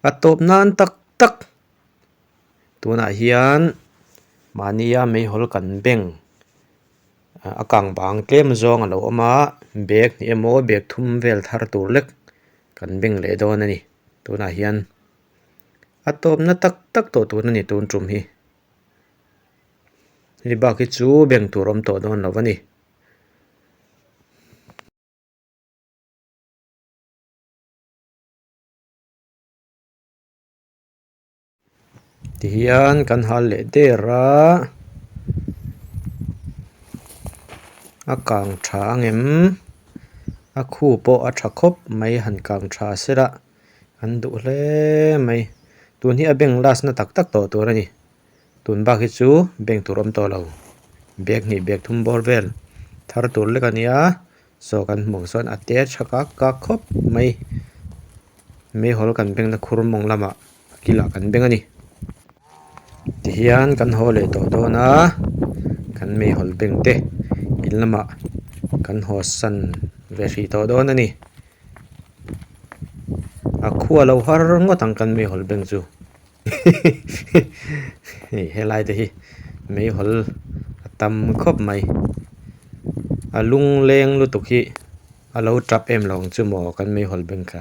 a tawp nan tak tak tunah hian mahnia mei hawl kan beng a kang bang tlem zawng alo awm a bag ni emaw bag thum vel thar tur lek kan beng leh dawn a ni tunah hian a tawp na tak tak tawh tur a ni tun tum hi hei bak hi chu beng tur awm tawh dawn lo a ni. tihian kan hal leh der a a kang tha ang em a khu pawh a tha khawp mai han kang tha sela an duh hle mai tun hi a bank last na tak tak tawh tur a ni tun bak hi chu bank tur awm tawh lo bag hnih bag thum bawr vel thar tur lek a ni a. Saw kan hmuh sawn a te tha kak kak khawp mai Meihawl kan beng na khur mawng lam ah a kil ah kan beng a ni ti hian kan haw leh tawh dawn a kan Meihawl beng te in lam ah kan haw san ve hrih tawh dawn a ni a khua lo har ngawt ang kan Meihawl beng chu. hei helai te hi mei hawl a tam khawp mai a lung leng lutuk hi a lo tap em lo ang chu maw kan mei hawl bank kha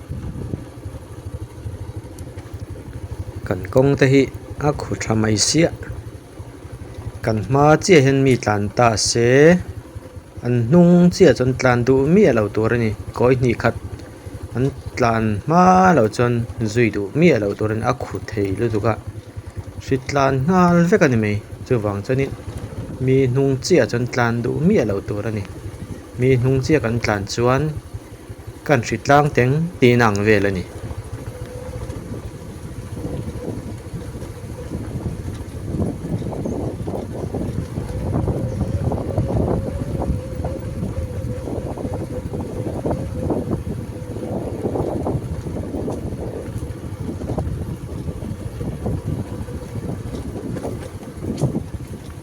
kan kawng te hi a khaw tha mai siah kan hma chiah hian mi tlan ta se an hnung chiah chuan tlan duh miah lo tur a ni kawi hnih khat an tlan hma lo chuan zui duh miah lo tur a ni a khaw thei lutuk a hri tlan nghal vek a ni mai chuvang chuan in mi hnung chiah chuan tlan duh miah lo tur a ni mi hnung chiah kan tlan chuan-- Kan hri tlang teng tihna ang vel a ni.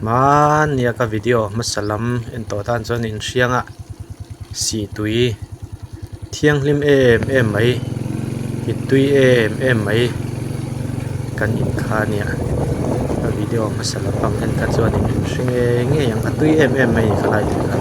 Hmânia ka video hmasa lam en tawh tan chuan in hrianga sih tui thianghlim em em mai hit tui em em mai kan in kha nia ka video hmasa lam pang hian kha chuan in hre nge ngei ang a tui em em mai ka la in kha.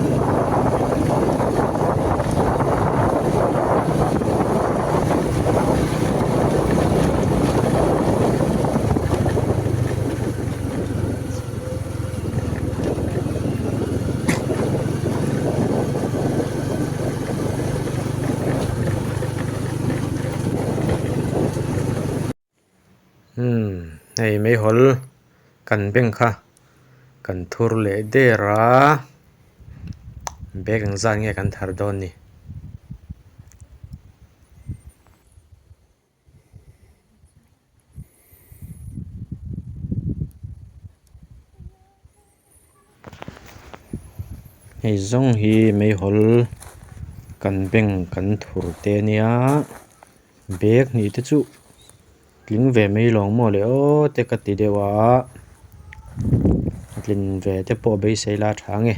hei mai hawl kan bank kha kan thur leh der a bag ang zan nge kan thar dawn ni. hei zawng hi mai hawl kan bank kan thur te a nia bag hnih te chu tling ve mai loh maw leh aww te ka ti deuh a. a tlin ve te pawh beisei la tha nge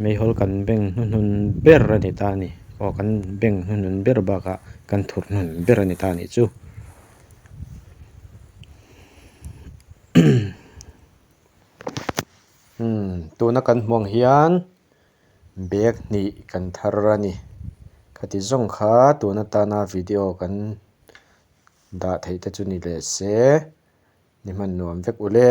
mei hawl kan beng hnu hnun ber a ni ta a ni aw kan beng hnu hnun ber bakah kan thut hnun ber a ni ta a nih chu umm tuna kan hmuh ang hian bag hnih kan thar a ni khati zawng kha tun atana video kan-- dah theih te chu ni leh se, ni hman nuam vek ule.